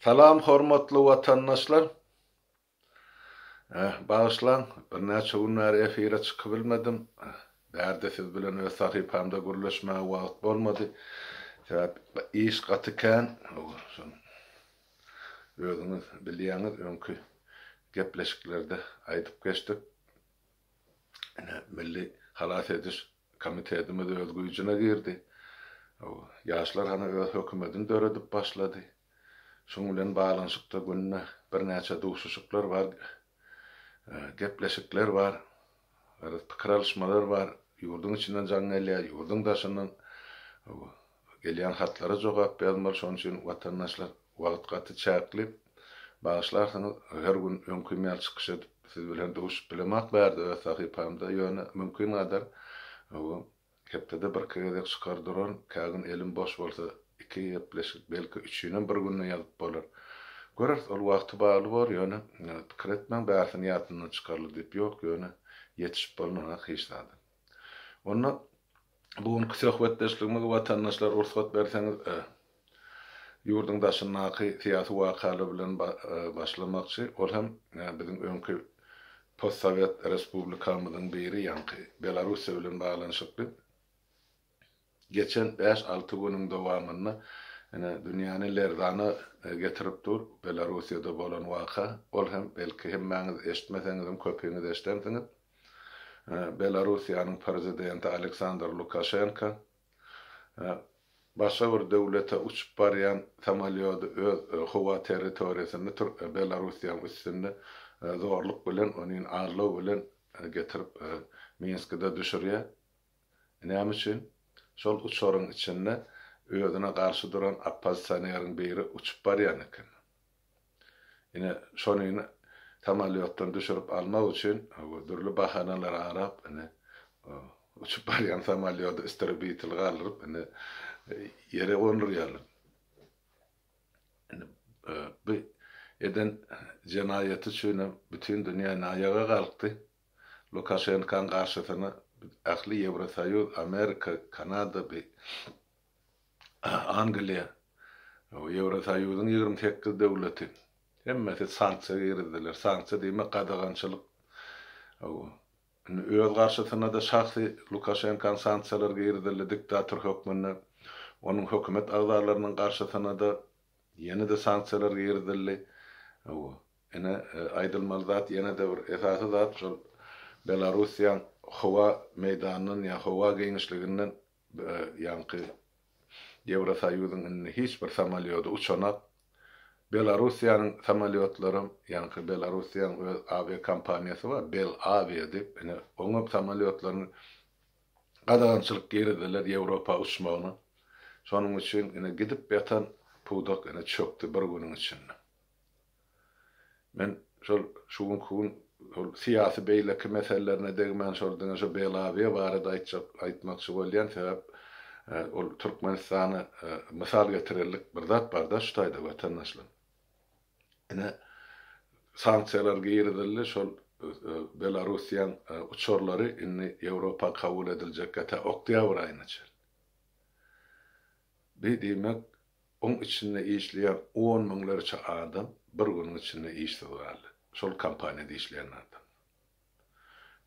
Salam hormatly watandaşlar. Eh, bagyşlaň, birnäçe gün bäri efire çykybilmedim. Bärde siz bilen öz sahypamda gürleşmäge wagt bolmady. Sebäp iş gaty kän. Özüňiz bilýäňiz, öňki gepleşiklerde aýdyp geçdik. Ine, milli halas ediş Komitetimiz öz güýjüne girdi. Ýaşlar hany öz hökümetini döredip başlady. Şuň bilen baglanyşykda günde birnäçe duşuşyklar bar, gepleşikler bar, pikir alyşmalar bar. Ýurduň içinden jaň gelýär, ýurduň daşyndan. Gelýän hatlara jogap ýazmaly şonuň üçin watandaşlar wagt gaty çäkli. Bagyşlarsyňyz her gün öňkim ýaly çykyş edip siz bilen duşup bilemok bärde öz sahypamda ýöne mümkin gadar bu hepdede birki gezek çykar duran kägün elim boş bolsa iki gepleşik belki üçinem bir günde ýazyp bolar göreris ol wagty bagly bor ýöne pikir etmäň bärsini ýatyndan çykarly diýip ýok ýöne ýetişip bolunanok hiç zadam. Onda bu günki söhbetdeşligimizi watandaşlar rugsat berseňiz ýurduň daşyndaky syýasy wakalar bilen başlamakçy, ol hem biziň öňki postsowet respublikamyzyň biri ýaňky Belarussiýa bilen baglanyşykly. Geçen bäş-alty günüň dowamynda ine, dünýäni lerzana getirip dur Belarussiýada bolan waka. Ol hem, belki, hemmäňiz eşitmeseňizem, köpiňiz eşidensiňiz. Belarussiýanyň prezidenti Aleksandr Lukaşenko başga bir döwlete uçup barýan samolýody öz howa territoriýasynda tur Belarussiýanyň üstünde zorluk bilen, onin, allow bilen getirip Minskide düşürýär. Näme üçin? Şol uçaryň içinde özüne garşy duran oppozisioneriň biri uçup barýan eken. Ine, şonyny samolýotdan düşürip almak üçin dürli bahanalar arap, ine, uçup barýan samolýody istrabitel galdyryp, ine, ýere gondurýarlar. Indi bu eden jenaýaty üçinem bütin dünýä näýaga galkdy. Lukaşenkaň garşysyna biz ähli Ýewrosoýuz, Amerika, Kanada bi Angliýa, Ýewrosoýuzyň ýigrimi sekiz döwleti hemmesi sanksiýa girizdiler. Sanksiýa diýmek gadagançylyk. Indi öz garşysyna-da şahsy Lukaşenkaň sanksiýalar girizildi diktator hökmünde. Onuň hökümet agzalarynyň garşysyna-da ýene-de sanksiýalar girizildi. Ine, aýdylmaly zat ýene-de bir esasy zat şol Belarussiýaň howa meýdanyndan ýa howa giňişliginden ýaňky Ýewrosoýuzyň indi hiç bir samolýody uçanak. Belarussiýanyň samolýotlaram, ýaňky Belarussiýaň öz awiakompaniýasy bar, Belawia diýip, ine, oňam samolýotlaryny gadagançylyk girizdiler Ýewropa uçmagyna. Şonuň üçin ine gidip ýatan pudak ine çökdi bir günüň içinde. Men şol şu günki gün şol syýasy beýleki meselelerine degmän şol diňe şu Belawiýa barada aýtjak aýtmakçy bolýan sebäp ol Türkmenistana mysal getirerlik bir zat barda şu taýda watandaşlar. Ine sanksiýalar girizildi şol Belarussiýaň uçarlary indi Ýewropa kabul ediljekkä tä oktýabr aýyna çen. Bi diýmek Oň içinde işleýän on müňlerçe adam bir günüň içinde işsiz galdy. Şol kompaniýada işleýän adamlar.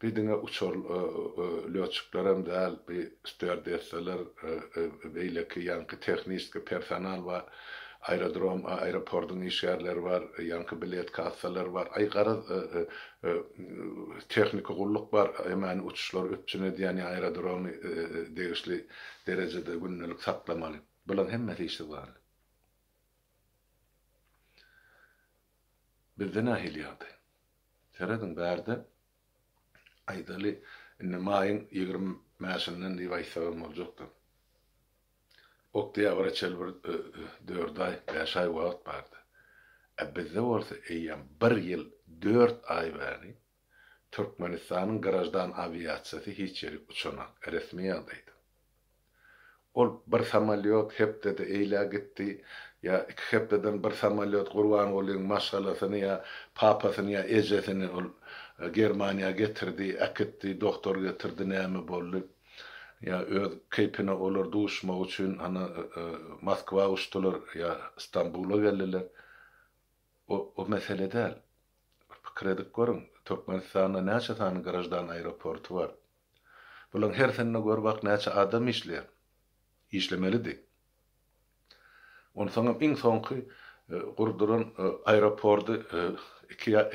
Bi diňe uçar lýotçiklerem däl, bi stýuardessalar, beýleki ýaňky tehniski personal bar, aerodrom, aeroportyň işgärleri bar, ýaňky bilet kassalary bar. Aý, garaz, tehniki gulluk bar, hemmäni uçuşlary üpjün edýän ýa aerodromy degişli derejede gündelik saklamaly. Bulaň hemmesi işsiz galdy. Bizde nähili ýagdaý? Serediň bärde aýdaly indi maýyň ýigrimi bäşinden diýip aýtsagam boljakdyr. Oktýabra çenli bir dört aý, bäş aý wagt bardy. Ä bizde bolsa eýýäm bir ýyl dört aý bäri Türkmenistanyň graždan awiasiýasy hiç ýerik uçanak, resmi ýagdaýda. Ol bir samolýot hepdede eýlä gitdi, ýa iki hepdeden bir samolýot Gurbangulyň maşgalasyny ýa papasyny ýa ejesini ol Germaniýa getirdi, äkitdi, doktor getirdi, näme boldy, ýa öz keýpine olar duşmak üçin ana Moskwa uçdular ýa Stambula geldiler. O mesele däl. Bir pikir edip görüň, Türkmenistanda näçe sany graždan aeroporty bar? Bularyň hersinde gör bak näçe adam işleýär? Işlemelidi. Onsoňam iň soňky gurduran aeroporty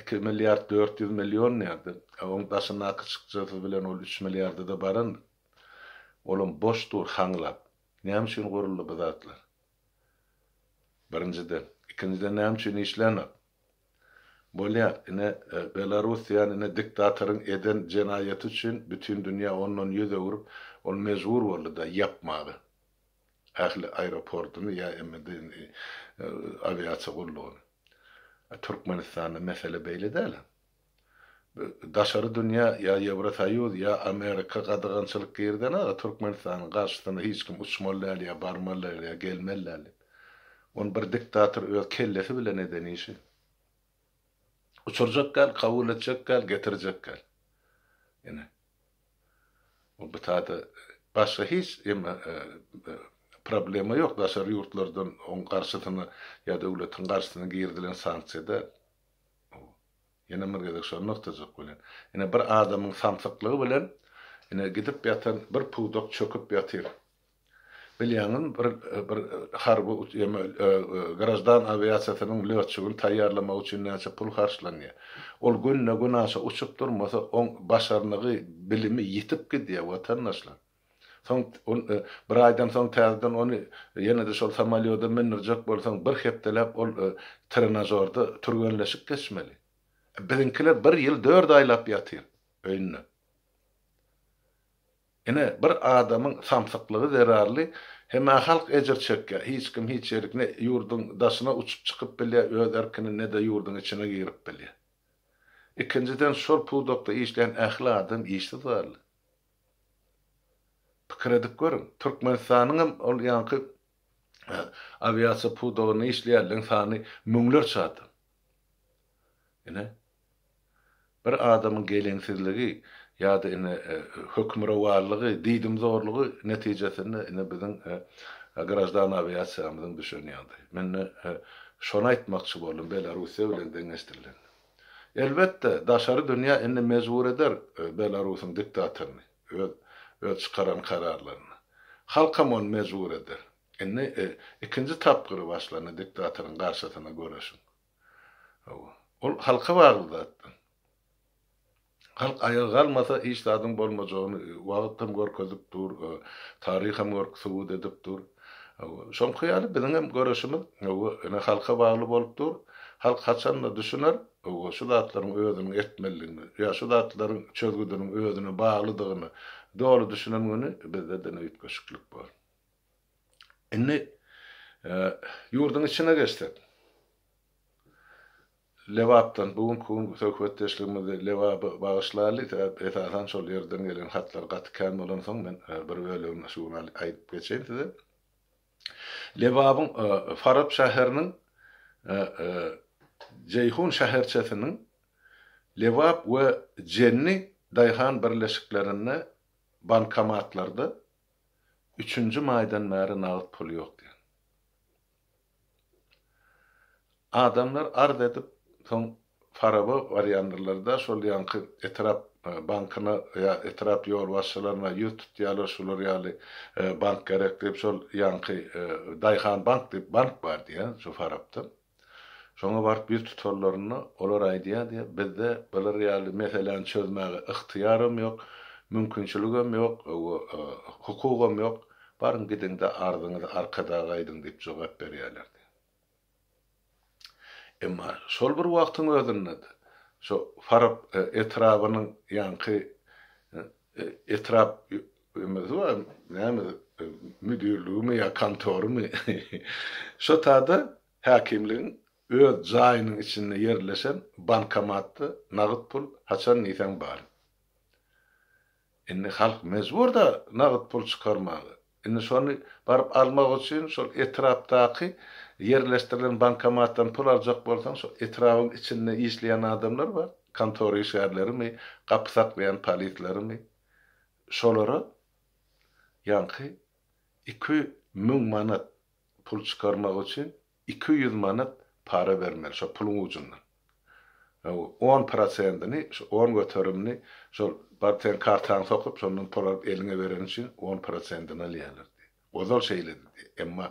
iki milliard dört ýüz million nädip? A oň daşyndaky çykjasy bilen ol üç milliarda-da barandyr. Olam boş dur haňlap. Näme üçin guruldy bu zatlar? Birinjiden, ikinjiden näme üçin işlänok? Bolýar, ine, Belorussiýany ine diktatoryň eden jenaýaty üçin bütin dünýä ondan ýüz öwrüp, ol mejbur boldy-da ýapmaga ähli aeroportyny ýa emede indi awiasiýa gullugyny. A Türkmenistanda mesele beýle däl-ä. Daşary dünýä ýa Ýewrosoýuz ýa Amerika gadagançylyk girizene kadar Türkmenistanyň garşysyna hiç kim uçmaly däl ýa barmaly däl ýa gelmeli däl diýip. Ony bir diktator öz kellesi bilen eden işi. Uçurjak däl, kabul etjek däl, getirjek däl. Ine. Bu bitada başga hiç eme problema ýok daşary ýurtlardan oň garşysyna ýa döwletiň garşysyna girizilen sanksiýada. Ýene bir gezek şony nygtajak welin, ine bir adamyň samsyklygy bilen ine gidip ýatan bir pudak çöküp ýatyr. Bilýäňizmi, bir bir harby ýa-da graždan awiasiýasynyň lötçügini taýýarlamak üçin näçe pul harçlanýar. Ol günde-günaşa uçup durmasa, oň başarnygy, bilimi ýitip gidýär, watandaşlar. Soň ol bir aýdan soň täzeden ony ýene-de şol samolýoda mündürjek bolsaň, bir hepdeläp ol trenažorda türgenleşik geçmeli. Biziňkiler bir ýyl dört aýlap ýatyr öýünde. Ine, bir adamyň samsyklygy zerarly hemä halk ejir çekýär. Hiç kim hiç ýerik ne ýurduň daşyna uçup çykyp bilýär öz erkini, ne-de ýurduň içine girip bilýär. Ikinjiden, şol pudakda işleýän ähli adam işsiz zerarly. Pikir edip görüň, Türkmenistanyňam ol ýaňky awiasiýa pudagynda işleýänleriň sany müňlerçe adam. Ine, bir adamyň geleňsizligi ýa-da ine hökmürowanlygy, diýdimzorlugy netijesinde ine biziň graždan awiasiýamyzyň düşen ýagdaýy. Men ine şony aýtmakçy boldum, Belarussiýa bilen deňeşdirilende. Elbetde, daşary dünýä indi mejbur eder Belarusyň diktatoryny, öz öz çykaran kararlaryna. Halkam ony mejbur eder. Indi ikinji tapgyry başlandy diktatoryň garşysyna göreşiň. Hawa, ol halka bagly zatdy. Halk aýaga galmasa hiç zadyň bolmajagyny wagyt hem görkezip dur, taryh hem subut edip dur. Şoňky ýaly biziň hem göreşimiz ene halka bagly bolup dur. Halk haçanda düşüner şu zatlaryň özüniň etmelidigini ýa şu zatlaryň çözgüdiniň özüne baglydygyny doly düşünen güni bizde dine üýtgeşiklik bor. Indi ýurduň içine geçsek. Lebapdan bu günki gün söhbetdeşligimizi Lebaba bagyşlaly, sebäp esasan şol ýerden gelen hatlar gaty kän bolansoň men bir bölegini şu gün aýdyp geçeýin size. Lebabyň Farap şäheriniň Jeýhun şäherçesiniň Lebap we Jenni daýhan birleşiklerinde bankomatlarda üçünji maýdan bäri nagt pul ýok diýen. Adamlar arz edip, soň Faraba barýandyrlar-da, şol ýanky etrap bankyna ýa etrap ýolbaşçylaryna ýüz tutýarlar, şular ýaly bank gerek diýip, şol ýanky Daýhanbank diýip bank bar diýýär şu Farapda. Şoňa baryp ýüz tutanlarynda, olar aýdýar diýýär, bizde bular ýaly meseläni çözmäge ygtyýaram ýok, mümkinçiligem ýok, hukugam ýok. Baryň gidiň-de arzyňyzy arkadaga aýdyň diýip jogap berýärlerdi. Emma şol bir wagtyň özünde-de şo Farap etrabynyň ýaňky etrap näme müdirligimi ýa kontorymy şota-da häkimligiň öz jaýynyň içinde ýerleşen bankomatda nagyt pul haçan diýseň bar. Indi halk mejbur-da nagt pul çykarmaga. Indi şony baryp almak üçin şol etrapdaky ýerleşdirilen bankomatdan pul aljak bolsaň, şol etrabyň içinde işleýän adamlar bar, kontora işgärlerimi, gapy saklaýan polislerimi. Şolara ýaňky iki müň manat pul çykarmak üçin Iki ýüz manat para bermeli şo puluň ujundan. On prosentini, şo on göterimini şol bar seň kartaňy sokup, şondan pul alyp eliňe bereni üçin on prosentini alýarlar diýýär. Ozal şeýledi diýýär. Emma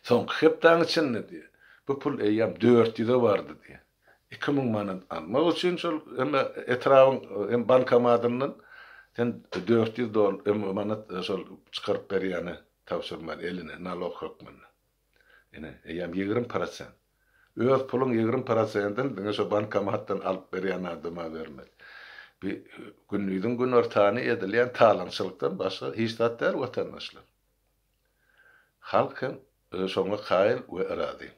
soňky hepdäň içinde diýýär, bu pul eýýäm dört ýüze bardy diýýär. iki müň manat almak üçin şol hem etrabyň hem bankomatyndan sen dört ýüz manat şol çykaryp berýäne tabşyrmaly eline nalog hökmünde. Ine, eýýäm ýigrimi prosent. Öz puluň ýigrimi prosentini diňe şo bankomatdan alyp berýän adama bermeli. Bi gündiziň günortany edilýän talaňçylykdan başga hiç zat däl watandaşlar. Halk hem şoňa kaýyl we razy.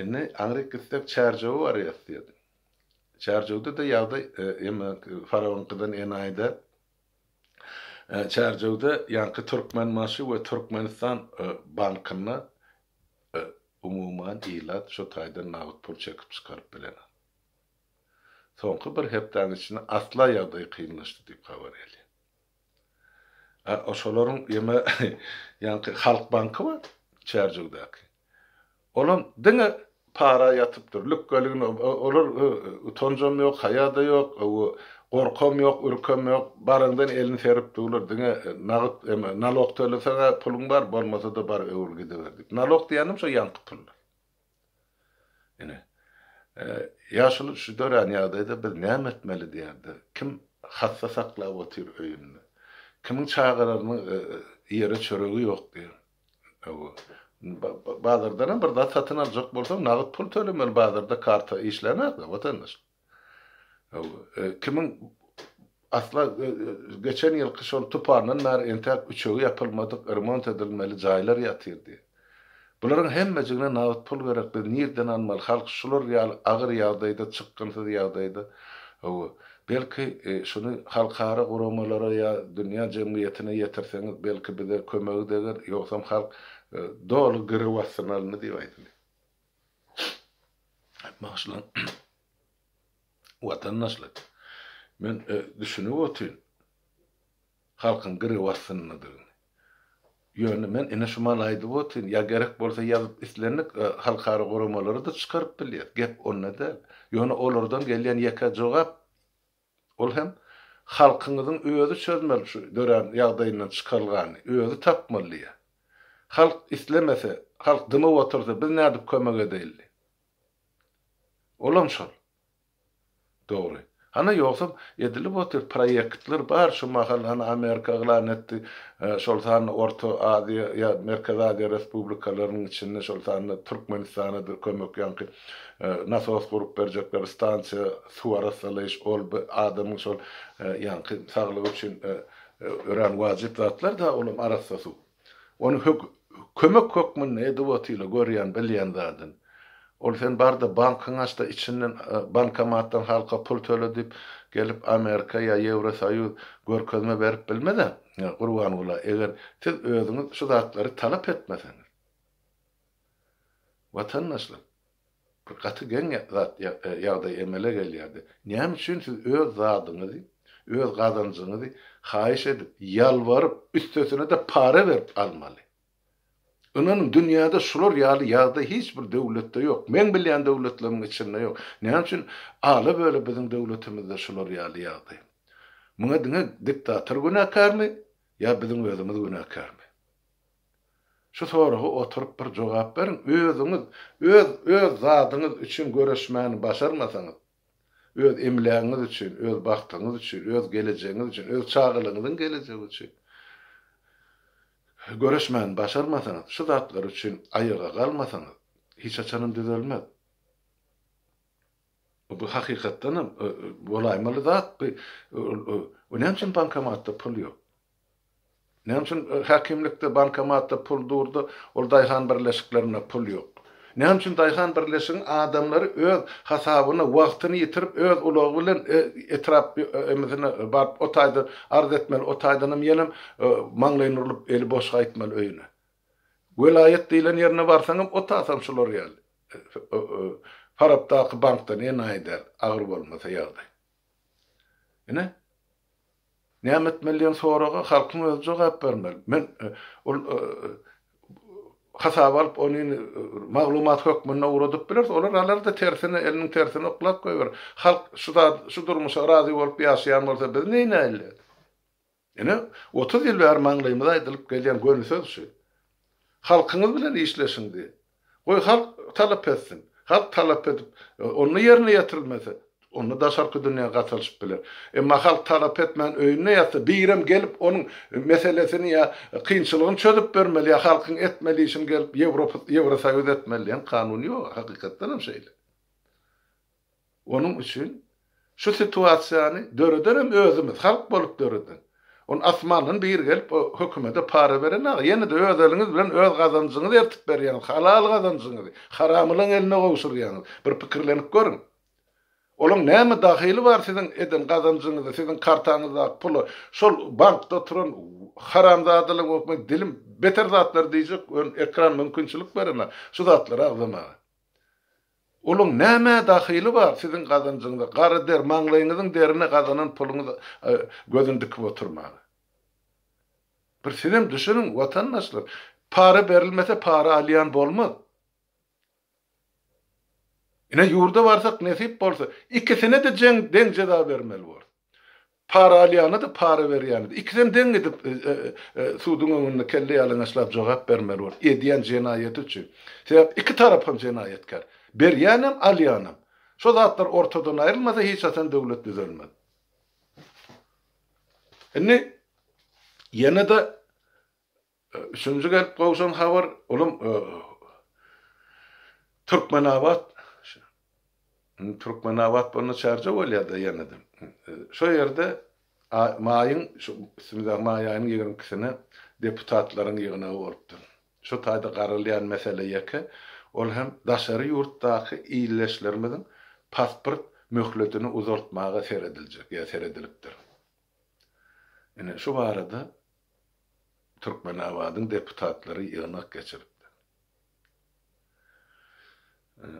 Indi aňryk gitsek Çärjewe barýas diýerdim. Çärjewde-de ýagdaý emma Farabyňkydan enaýy-da. Çärjewde ýaňky Türkmenbaşy we Türkmenistan bankynda umuman ilat şu taýdan nagt pul çekip çykaryp bilenok. Soňky bir hepdäniň içinde asla ýagdaý kynlaşdy diýip habar gelýär. A şolaryň ýeme ýaňky Halk banky bar Çärjewdäki. Olam diňe para ýatypdyr. Lükgeligin olar utanjam ýok, haýa-da ýok, gorkam ýok, ürkem ýok. Baraňdan elini serip durlar. Diňe nagyt eme nalog töleseň-ä puluň bar, bolmasa-da bar öwül gidiber diýip. Nalog diýenim şo ýaňky pullar. Ine, ýaşuly şu dörän ýagdaýda biz näme etmeli diýende, kim hassa saklap otyr öýünde, kimiň çagalarynyň iýere çöregi ýok diýen. Hawa, bazardanam bir zat satyn aljak bolsaň, nagt pul tölemeli, bazarda karta işlämez-de, watandaş. Kimiň asla geçen ýylky şol tupandan bäri entäk üçegi ýapylmadyk, remont edilmeli jaýlar ýatyr diýip. Bularyň hemmejigine nagt pul gerek, biz nirden almaly, halk şular ýaly agyr ýagdaýda, çykgynsyz ýagdaýda, hawa, belki şuny halkara guramalara ýa dünýä jemgyýetine ýetirseňiz, belki bize kömegi deger, ýogsam halk doly girew astynalyndy diýip aýdylýar. Bagşylar, watandaşlar, men düşünip otyryn halkyň gyrybasdyndygyny. Ýöne men ine şu maly aýdyp otyryn, ýa gerek bolsa ýazyp islendik halkara guramalary-da çykaryp bilýär. Gep onda däl. Ýöne olardan gelýän ýeke jogap, Ol hem Halkyňyzyň özi çözmeli şu dörän ýagdaýyndan çykalgany, özi tapmaly diýýä. Halk islemese, halk dymyp otursa biz nädip kömek edeýli? Olam şol. Dogry. Hany ýogsam edilip otyr proýektler bar şu mahal hany Amerika yglan etdi şol sanda Orta Aziýa ýa Merkezi Aziýa respublikalarynyň içinde şol sanda Türkmenistanadyr kömek ýaňky Nasos gurup berjekler, stansiýa, suw arassalaýyş, ol bir adamyň şol ýaňky saglygy üçin örän wajyp zatlar da, ol hem arassa suw. Ony hök, kömek hökmünde edip otyla, görýän, bilýän zadyn. Ol sen bar-da bankyňy aç-da, içinden bankomatdan halka pul töle diýip, gelip Amerika ýa Ýewrosoýuz görkezme berip bilmez-ä, Gurbangula, eger siz özüňiz şu zatlary talap etmeseňiz. Watandaşlar, bir gaty geň zat ýagdaý emele gelýärdi. Näme üçin siz öz zadyňyzy, öz gazanjyňyzy haýyş edip, ýalbaryp, üstesine-de para berip almaly? Ynanyň, dünýäde şular ýaly ýagdaý hiç bir döwletde ýok. Meň bilýän döwletlerimiň içinde ýok. Näme üçin ala-böle biziň döwletimizde şular ýaly ýagdaý? Muňa diňe diktator günäkärmi ýa biziň özümiz günäkärmi? Şu soraga oturyp bir jogap beriň, özüňiz öz öz zadyňyz üçin göreşmäni başarmasaňyz, öz emlägiňiz üçin, öz bagtyňyz üçin, öz gelejegiňiz üçin, öz çagalaryňyzyň gelejegi üçin göreşmäni başarmasaňyz, şu zatlar üçin aýaga galmasaňyz, hiç haçanam düzelmez. Bu hakykatdanam bolaýmaly zat, bu näme üçin bankomatda pul ýok? Näme üçin häkimlikde, bankomatda pul durdy, ol daýhan birleşiklerinde pul ýok? Näme üçin daýhan birleşigiň adamlary öz hasabyna wagtyny ýitirip, öz ulagy bilen etrap emisine baryp, o taýdan arz etmeli, o taýdanam ýenem maňlaýyny urlup, eli boş gaýtmaly öýüne? Welaýat diýlen ýerine barsaňam, o tasam şular ýaly. Farapdaky bankda ne naýy däl, agyr bolmasa ýagdaý. Ine, Näme etmeli diýen soraga halkyň özi jogap bermeli. Men ol hasaba alyp ony maglumat hökmünde ugradyp bileris. Olar alar-da tersine, eliniň tersine oklap goýberer. Halk şu zat, şu durmuşa razy bolup ýaşaýan bolsa biz neýnäýeli? Ine, otuz ýyl bäri maňlaýymyza aýdylyp gelýän göni söz şu. Halkyňyz bilen işleşiň diýip. Goý halk talap etsin. Halk talap edip, onda ýerine ýetirilmese, onda daşarky dünýä gatalşyp biler. Emma halk talap etmän öýünde ýatsa, birem gelip onuň meselesini ýa kynçylygyny çözüp bermeli ýa halkyň etmeli işini gelip Ýewropa Ýewrosoýuz etmeli diýen kanun ýok. Hakykatdanam şeýle. Onuň üçin şu situasiýany dörederem özümiz, halk bolup döreden. Ony asmandan biri gelip o hökümede para beren aga. Ýene-de öz eliňiz bilen öz gazanjyňyzy ertip berýäňiz. Halal gazanjyňyzy haramylaň eline gowşurýaňyz. Bir pikirlenip görüň. Olaň näme dahyly bar siziň eden gazanjyňyzy, siziň kartaňyzdaky pula, şol bankda oturan haramzadalar bolup men dilim beter zatlar diýjek, ön ekran mümkinçilik beremä şu zatlary agzamaga. Olaň nämä dahyly bar siziň gazanjyňyza, gara der, maňlaýyňyzyň derine gazanan puluňyz gözüni dikip oturmaga. Bir sizem düşüniň watandaşlar, para berilmese para alýan bolmaz. Ine ýurda barsak nesip bolsa, ikisine-de jeň deň jeza bermeli bolar. Para alýana-da, para berýäne-de, ikisem deň gidip, suduň öňünde kelle ýalaňaçlap jogap bermeli bolup, edýän jenaýaty üçin. Sebäp iki tarap hem jenaýatkär. Berýänem, alýanam. Şo zatlar ortadan aýrylmasa, hiç haçan döwlet düzelmez. Indi ýene-de Üçünji gelip gowşan habar, olam Türkmenabat, indi Türkmenabat bolanda Çärjew bolýar-da ýene-de. Şo ýerde maýyň, şu üstümizdäki maý aýynyň ýigrimi ikisine deputatlaryň ýygnagy bolupdyr. Şu taýda garalýan mesele ýeke, ol hem daşary ýurtdaky ildeşlerimiziň pasport möhletini uzaltmaga serediljek ýa seredilipdir. Ine, şu barada Türkmenabadyň deputatlary ýygnak geçiripdir.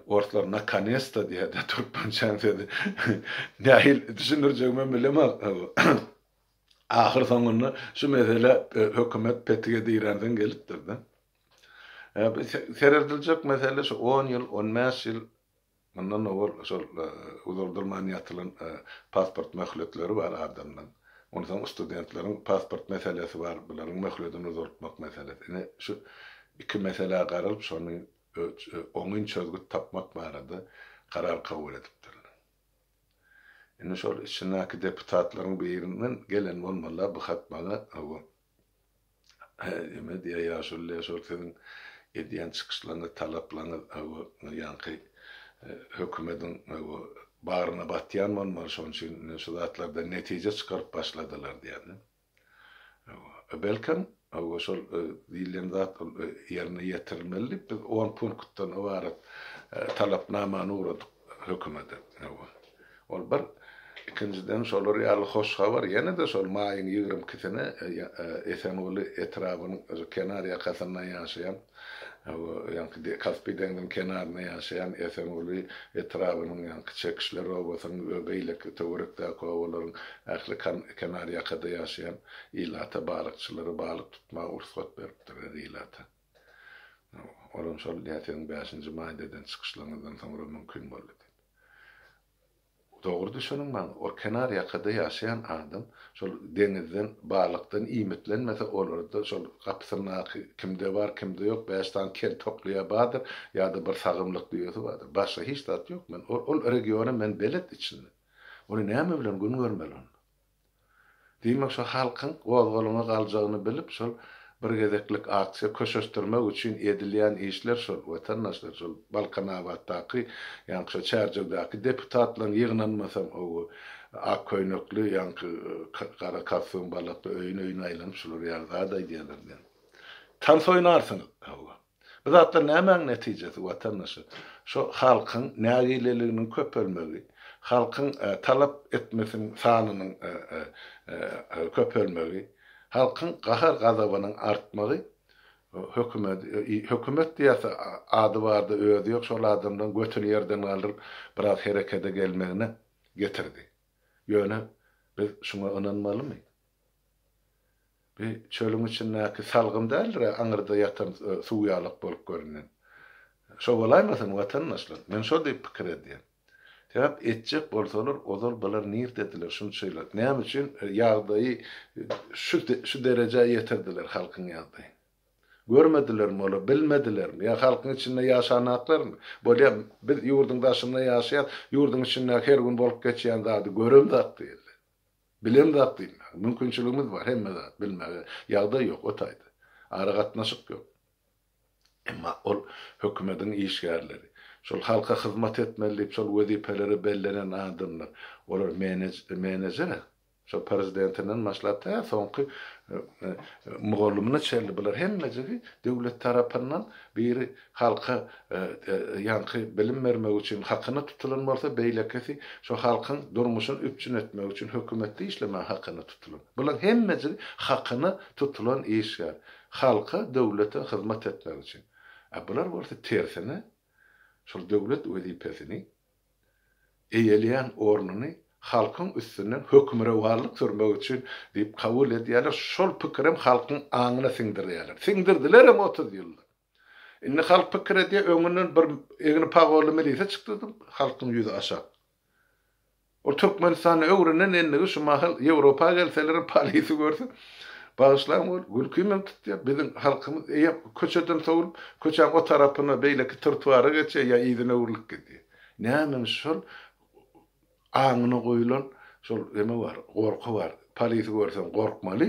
Orslar nakonesta diýýärdi, türkmençäň sözi nähil düşündirjegimem bilemok. Ahyr soňunda şu mesele hökümet petige diränsoň gelipdir-de. Serediljek mesele şu on ýyl, on bäş ýyl Mundan owal şol uzaldylman ýatylan pasport möhletleri bar adamlaň. Onsoň studentleriň pasport meselesi bar, bularyň möhledini uzaltmak meselesi. Ine şu iki meselä garalyp şony oňyn çözgüt tapmak barada karar kabul edipdirler. Indi şol içindäki deputatlaryň birinden gelen bolmalylar bu hat maňa. Neme diýýär ýaşulylar şol siziň edýän çykyşlaryňyz talaplaryňyz ýaňky hökümediň bagryna batýan bolmaly şonuň üçin ine şu zatlardan netije çykaryp başladylar diýýär de. Belkem şol diýilýän zat ol ýerine ýetirilmeli diýip biz on punktdan ybarat talapnamany ugradyk hökümede. Ol bir. Ikinjiden, şolar ýaly hoş habar ýene-de şol maýyň ýigrimi ikisine Esenguly etrabynyň özi kenar ýakasynda ýaşaýan, ýaňky Kaspi deňziniň kenarynda ýaşaýan Esenguly etrabynyň, ýaňky Çekişler obasynyň we beýleki töwerekdäki obalaryň ähli kenar ýakada ýaşaýan ilata balykçylara balyk tutmaga rugsat beripdir, ýer ilata. Olam şol nätdigiň bäşinji maýda eden çykyşlaryňyzdan soňra mümkin boldy diýip. Dogry düşüniň maňa, ol kenar ýakada ýaşaýan adam şol deňizden, balykdan iýmitlenmese, olarda şol gapysyndaky kimde bar, kimde ýok, bäş sany kel tokly ýa bardyr, ýa-da bir sagymlyk düýesi bardyr. Başga hiç zat ýok. Men ol regiona men belet içinde. Ony näme bilen gün görmeli onda? Diýmek, şo halkyň gozgalaňa galjagyny bilip, şol bir gezeklik aksiýa köşeşdirmek üçin edilýän işler şol, wetandaşlar, şol Balkanabatdaky, ýaňky şo Çärjewdäki deputatlaryň ýygnanmasam howy, ak köýnekli, ýaňky gara kostýum balakly öýün-öýüne aýlanyp şular ýaly zat aýdýarlar diýen. Tans oýnarsyňyz, hawa. Bu zatlar nämäň netijesi, watandaşy? Şu halkyň nägileliginiň köpelmegi, halkyň talap etmesiniň sanynyň köpelmegi, halkyň gahar-gazabynyň artmagy hökümet, hökümet diýerse ady bardy, özi ýok şol adamlaryň götüni ýerden galdyryp biraz herekede gelmegine getirdi. Ýöne biz şuňa ynanmalymy? Bu çölüň içindäki salgym däldir-ä, aňyrda ýatan suw ýalak bolup görünen. Şo bolaýmasyn, watandaşlar? Men şo diýip pikir edýän. Sebäp etjek bolsalar, ozal bular nirdediler şunçaýylap? Näme üçin ýagdaýy şu derejä ýetirdiler, halkyň ýagdaýyny? Görmedilermi olar, bilmedilermi? Ýa halkyň içinde ýaşanaklarmy? Bolýar, biz ýurduň daşynda ýaşaýas, ýurduň içindäki her gün bolup geçýän zady göremzok diýerler. Bilen zat diýmäge, mümkinçiligimiz bar, hemme zat bilmäge ýagdaý ýok o taýda. Aragatnaşyk ýok. Emma ol hökümediň işgärleri. Şol halka hyzmat etmeli diýip şol wezipelere bellenen adamlar. Olar menejer-a. Şol prezidentinden başlap tä soňky mugallymyna çenli bular hemmejigi döwlet tarapyndan biri Halka ýaňky bilim bermek üçin hakyna tutulan bolsa, beýlekisi şu halkyň durmuşyny üpjün etmek üçin hökümetde işlemäge hakyna tutulan. Bularyň hemmejigi hakyna tutulan işgär. Halka, döwlete hyzmat etmek üçin. A bular bolsa tersine, şol döwlet wezipesini, eýeleýän ornuny halkyň üstünden hökmürowanlyk sürmek üçin diýip kabul edýärler, şol pikirem halkyň aňyna siňdirýärler. Siňdirdilerem otuz ýyllap. Indi halk pikir edýär, öňünden bir egni pagolly milisiýa çykdydy, halkyň ýüzi aşak. Ol Türkmenistanda öwrenen endigi şu mahal Ýewropa gelselerem polisi görse, bagyşlaň ol, gülki meni tutýar, biziň halkymyz eýýäm köçeden sowlup, köçäň o tarapyna beýleki trtuara geçýär ýa yzyna öwrülip gidýär. Nämemiş şol Aňyna goýulan şol neme bar, gorky bar. Polisi görseň gorkmaly.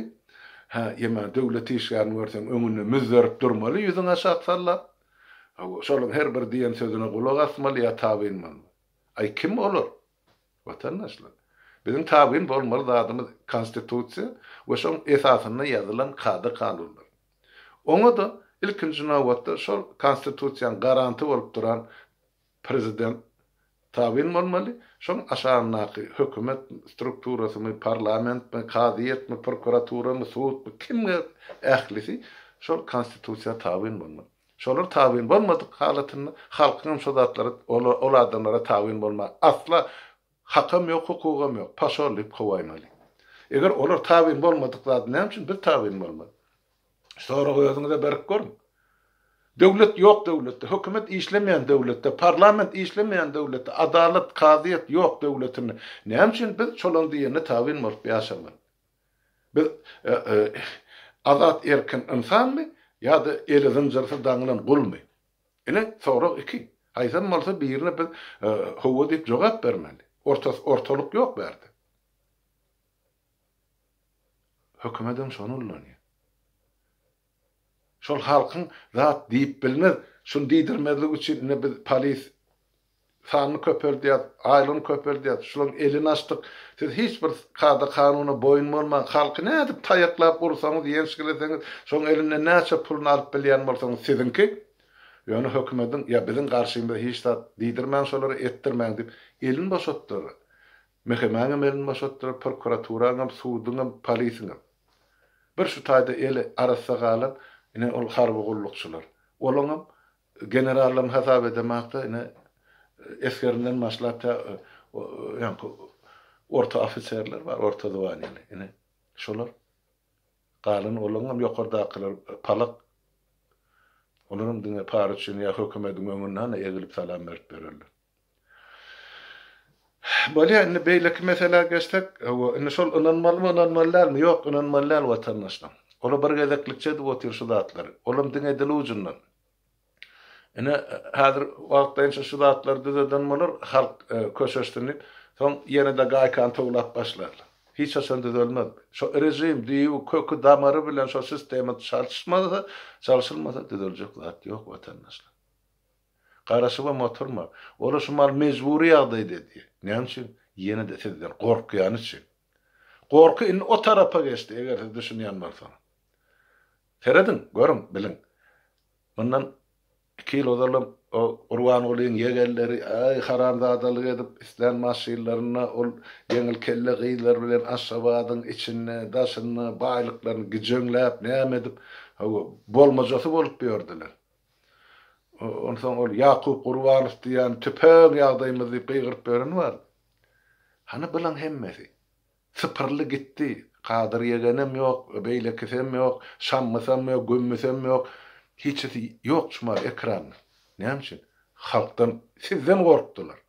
Hä, ýa-da döwlet işgärini görseň öňünde müzzerip durmaly ýüzüňi aşak sallap. Hawa, şolaryň her bir diýen sözüne gulak asmaly ýa tabynmaly. Aý, kim olar? Watandaşlar. Biziň tabyn bolmaly zadymyz Konstitusiýa we şoň esasynda ýazylan kada-kanunlar. Oňa-da ilkinji nobatda şol Konstitusiýaň garanty bolup duran Prezident tabyn bolmaly, şoň aşagyndaky hökümet strukturasymy, parlamentmi, kazyýetmi, prokuraturamy, sudmy, kimge ählisi şol konstitusiýa tabyn bolmaly. Şolar tabyn bolmadyk halatynda halkyňam şo zatlara, ol adamlara tabyn bolmaga asla hakam ýok, hukugam ýok. Paşol diýip kowaýmaly. Eger olar tabyn bolmadyk zady näme üçin biz tabyn bolmaly? Sorag özüňize berip görüň. Döwlet ýok döwletde, hökümet işlemeýän döwletde, parlament işlemeýän döwletde, adalat, kazyýet ýok döwletinde näme üçin biz çolaň diýenine tabyn bolup ýaşamaly? Biz azat erkin ynsanmy ýa-da eli zynjyrsyz daňylan gulmy? Ine, sorag iki. Haýsam bolsa birine biz hawa diýip jogap bermeli. Ortalyk ýok bärde. Hökümedem şony ullanýar. Şol halkyň zat diýip bilmez, şuny diýdirmezlik üçin ine biz polis sanyny köpeldýäs, aýlygyny köpeldýäs, şularyň elini açdyk, siz hiç bir kada-kanuna boýun bolman, halky nädip taýaklap ursaňyz, ýençgileseňiz, şoň elinden näçe puluny alyp bilýän bolsaňyz siziňki, ýöne hökümediň ýa biziň garşymyza hiç zat diýdirmäň şolara, etdirmäň diýip elini boşatdylar. Mehemäňem elini boşatdylar, prokuraturaňam, suduňam, polisiňem. Bir şu taýda eli arassa galan ine ol harby gullukçylar. Olaňam generallaryny hasap edemäk-de, ine, esgerinden başlap tä ýaňky orta ofiserler bar, orta zwaniýaly, ine, şolar. Galan olaňam ýokardakylar palak. Olaram diňe para üçin ýa hökümediň öňünde hany egilip salam berip ýörerler. Bolýa, indi beýleki meselä geçsek, hawa, indi şol ynanmalymy, ynanmaly dälmi? Ýok, ynanmaly däl watandaşlaň. Ola bir gezeklikçe edip otyr şu zatlary. Olam diňe dil ujundan. Ine, häzir wagtlaýynça şu zatlary düzeden bolar, halk köşeşsin diýip, soň ýene-de gaýkany towlap başlarlar. Hiç haçan düzelmez. Şo režim, düýbi, köki, damary bilen şo sistema çalşmasa, çalşylmasa düzeljek zat ýok watandaşlar. Garaşybam oturma. Ol-a şu mal mejbury ýagdaýda diýýär. Näme üçin? Ýene-de sizden gorkýany üçin. Gorky indi o tarapa geçdi, eger siz düşünýän bolsaňyz. Serediň, görüň, biliň. Mundan iki ýyl ozalam o Gurbangulyň ýegenleri, aý, haramzadalyk edip, islän maşynlarynda ol ýeňil kelle gyzlar bilen Aşgabadyň içinde, daşynda baýlyklaryny gijöňläp, näme edip, hawa, bolmajasy bolup ýördüler. Onsoň ol Ýakup Gurbanow diýýän tüpeň ýagdaýymyz diýip gygyryp ýören bar. Hany bylaň hemmesi? Sypyryldy gitdi. Kadyr ýegenem ýok, beýlekisem ýok, Şammysam ýok, Gümmüsem ýok. Hiçisi ýok çumal ekranda. Näme üçin? Halkdan, sizden gorkdular.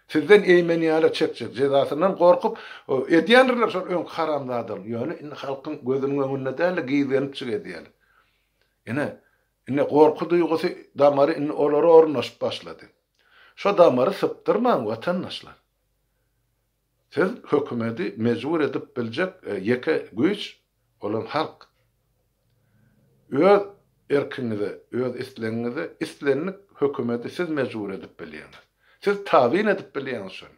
Sizden eýmenýäler çekjek jezasyndan gorkup edýändirler şol öňki haramzadalygy ýöne indi halkyň gözüniň öňünde dälde gizgenipjik edýäler. Ine indi gorky duýgusy damary indi olara ornaşyp başlady. Şo damary sypdyrmaň watandaşlar. Siz hökümedi mejbur edip biljek ýeke güýç, olam halk. Öz erkiňize, öz islegiňize islendik hökümedi siz mejbur edip bilýäňiz. Siz tabyn edip bilýäňiz şony.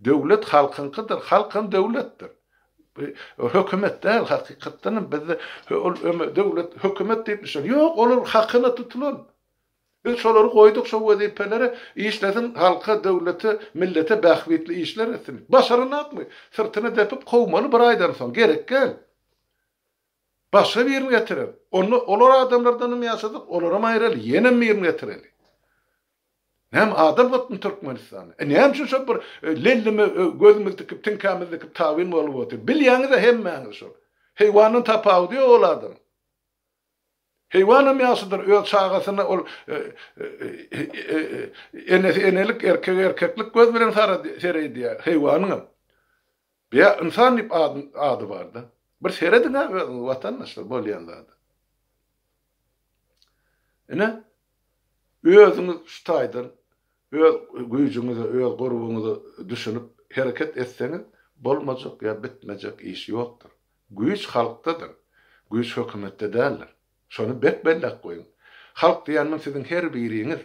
Döwlet halkyňkydyr, halk hem döwletdir. Bu hökümet däl, hakykatdanam bizde döwlet, hökümet diýip bir şey ýok. Ýok, olar hakyna tutulan Biz şolary goýduk şo wezipelere, işlesin halka, döwlete, millete bähbitli işler etsin. Başaranakmy? Syrtyna depip kowmaly bir aýdan soň, gerek gel. Başga birini getirer. Onda olar adamlardanam ýaşadyk, olaram aýraly, ýenem birini getireli. Näme adam gytmy Türkmenistanda? E näme üçin şo bir lelleme gözümizi dikip, tiňkämizi dikip tabyn bolup otyr. Bilýäňiz-ä hemmäňiz şol. Heýwandan tapawudy ýok ol adamyň. Heýwanam ýagşydyr, öz çagasyny ol enesi enelik, erkegi erkeklik göz bilen sereýdýär, heýwanyňam. Bä, ynsan diýip ady bar-da. Bir serediň-ä özüňiz watandaşlar bolýan zada. Ine, Özüňiz şu taýdan öz güýjüňize, öz gurbuňyza düşünip hereket etseňiz, bolmajak ýa bitmejek iş ýokdur. Güýç halkdadyr. Güýç hökümetde däldir. Şony berk belläp goýuň. Halk diýen muň siziň her biriňiz.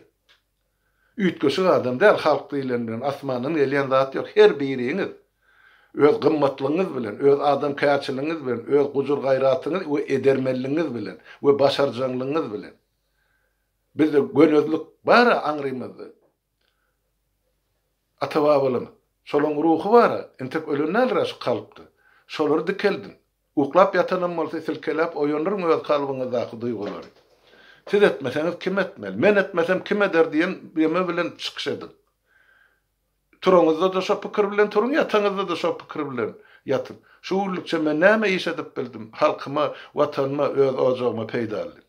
Üýtgeşik adam däl halk diýlen bilen, asmandan gelýän zat ýok, her biriňiz. Öz gymmatlygyňyz bilen, öz adamkärçiligiňiz bilen, öz gujur-gaýratyňyz we edermenligiňiz bilen we başarjaňlygyňyz bilen. Bizde gönezlik bar-a aňrymyzda. Ata-babalarymyz. Şolaryň ruhy bar-a. Entek ölen däldir-ä şu kalpda. Şolary dikeldiň. Uklap ýatanam bolsa silkeläp oýandyryn öz kalbyňyzdaky duýgulary. Siz etmeseňiz kim etmeli? Men etmesem kim eder diýen ýeme bilen çykyş ediň. Turaňyzda-da şo pikir bilen turuň, ýataňyzda-da şo pikir bilen ýatyň. Şu günlükçe men näme iş edip bildim? Halkyma, Watanyma, öz ojagyma peýdalydyr.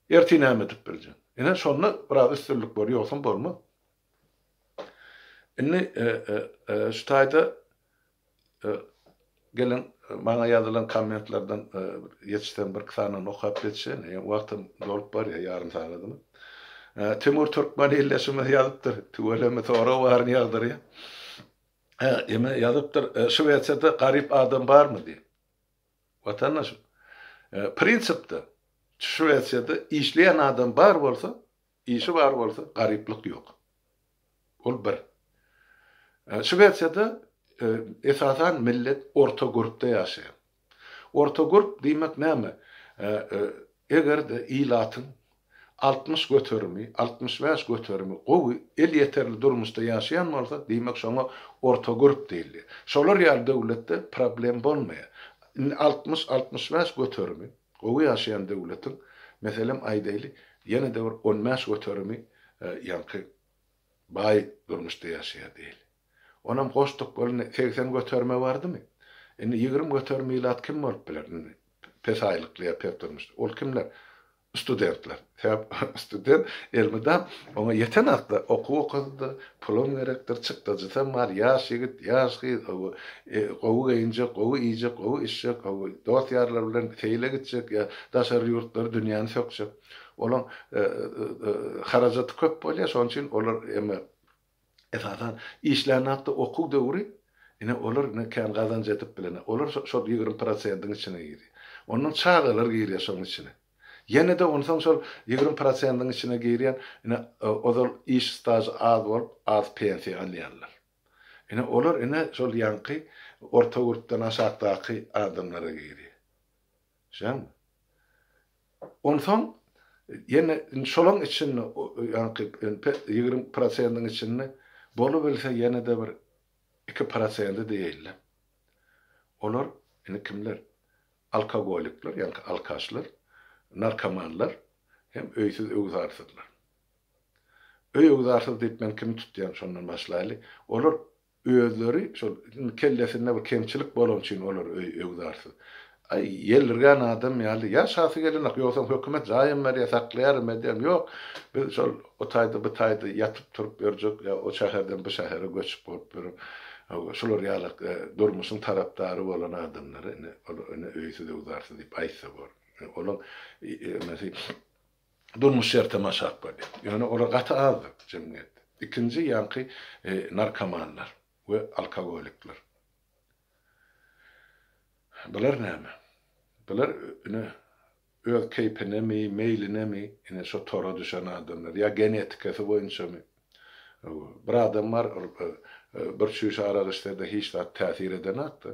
Ertir näme edip biljek? Ine, şonda biraz üstünlik bor, ýogsam bolmaz. Indi şu taýda geliň, maňa ýazylan kommentlerden ýetişsem birki sanyny okap geçeýin. Ýöne wagtam dolup barýar, ýarym sagadymy. Timur Türkmen ildeşimiz ýazypdyr, Tüweleme sorag baryny ýagdyrýar. Ýöne ýazypdyr, Şwesiýada garyp adam barmy diýip. Watandaşym, prinsipde, Şwesiýada işleýän adam bar bolsa, işi bar bolsa, garyplyk ýok. Ol bir. Şwesiýada esasan millet orta görüpde ýaşaýar. Orta görüp diýmek näme? Eger-de ilatyň altmyş göterimi, altmyş bäş göterimi gowy, elýeterli durmuşda ýaşaýan bolsa, diýmek şoňa orta gürp diýilýär. Şolar ýaly döwletde problem bolmaýar. Indi altmyş, altmyş bäş göterimi gowy ýaşaýan döwletiň, meselem aýdaýly, ýene-de bir on bäş göterimi ýaňky baý durmuşda ýaşaýar diýeli. Onam goşduk bolany segsen göterime bardymy? Indi ýigrimi göterimi ilat kim bolup biler indi pes aýlykly ýa pes durmuşly? Ol kimler? Studentler. Sebäp student elmydam oňa ýeten hakda okuw okady-da, pulam gerekdir, çykdajysam bar, ýaş ýigit, ýaş gyz, ow, gowy geýinjek, gowy iýjek, gowy içjek, ow, dost-ýarlary bilen seýle gitjek ýa daşary ýurtlary dünýäni sökjek. Olaň harajaty köp bolýar, şonuň üçin olar emma Esasan, işlän atda okuw döwri, ine, olar ine kän gazanç edip bilen, olar şo, şol ýigrimi prosentiň içine girýär. Ondan çagalar girýär şoň içine. Ýene-de onsoň şol ýigrimi prosentiň içine girýän, ine, ozal iş stažy az bolup, az pensiýa alýanlar. Ine, olar, ine, şol ýaňky orta gürpden aşakdaky adamlara girýär. Şeýdämi? Onsoň ýene indi şolaň içinde ýaňky ýigrimi prosentiň içinde bolubilse ýene-de bir iki prosenti diýeýin-le. Olar indi kimler? Alkogolikler, ýaňky alkaşlar, narkomanlar hem öýsüz-öwzarsyzlar. Öý-öwzarsyz diýip men kimi tutýan şondan başlaýly. Olar Özleri şol indi kellesinde bir kemçilik bolany üçin olar öý öwzarsyz. Aý, ýelirgän adam ýaly, ýaşasy gelenok, ýogsam hökümet jaýam berýär, saklaýaram, edýärin. Ýok, biz şol o taýda, bu taýda ýatyp-turup ýörjek, ýa o şäherden bu şähere göçüp bolup ýörüp, hawa, şular ýaly durmuşyň tarapdary bolan adamlara indi ol indi öýsüz-öwzarsyz diýip aýtsa bor. Olaň emesi durmuş şertem aşak bolýar. Ýöne olar gaty azdyr jemgyýetde. Ikinji ýaňky narkomanlar we alkogolikler. Bular näme? Bular ine öz keýpinemi, meýlinemi ine şo tora düşen adamlar ýa genetikasy boýunçamy? Bir adam bar ol bir çüýş arak içse-de hiç zat täsir edenok-da.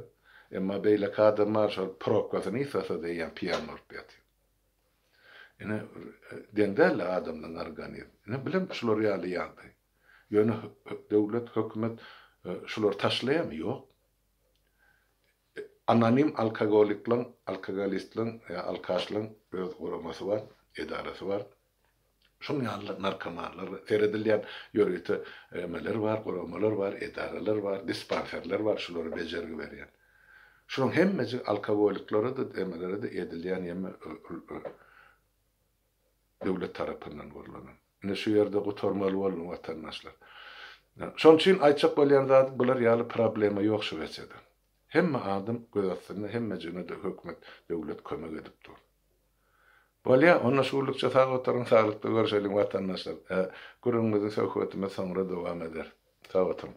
Emma beýleki adam bar şol prokkasyny ýitase-de ýa piýan bolup ýatýar. Ine, deň däldi adamlaň organizmi. Ine, bilemok şular ýaly ýagdaý. Ýöne döwlet, hökümet şulary taşlaýamy? Ýok. Anonim alkagoliklaň, alkagolistlaň, ýa alkaşlaň öz guramasy bar, edarasy bar. şonuň ýaly-da narkomanlar seredilýär, ýörite emeler bar, guramalar bar, edaralar bar, dispanserler bar, şulara bejergi berýän. Şularyň hemmejigi alkogolyklara-da, emelere-de edilýän ýeme döwlet tarapyndan gurlanan. Ine şu ýerde gutarmaly boldum watandaşlar. Şonuň üçin aýtjak bolýan zadym bular ýaly problema ýok Şwesiýada. Hemme adam göz astynda, hemmejigine-de hökümet, döwlet kömek edip dur. Bolýa, onda şuwlukça sag oturyň, saglykda görşeliň watandaşlar. Gürrüňimizi söhbetimiz soňra dowam eder. Sag oturyň.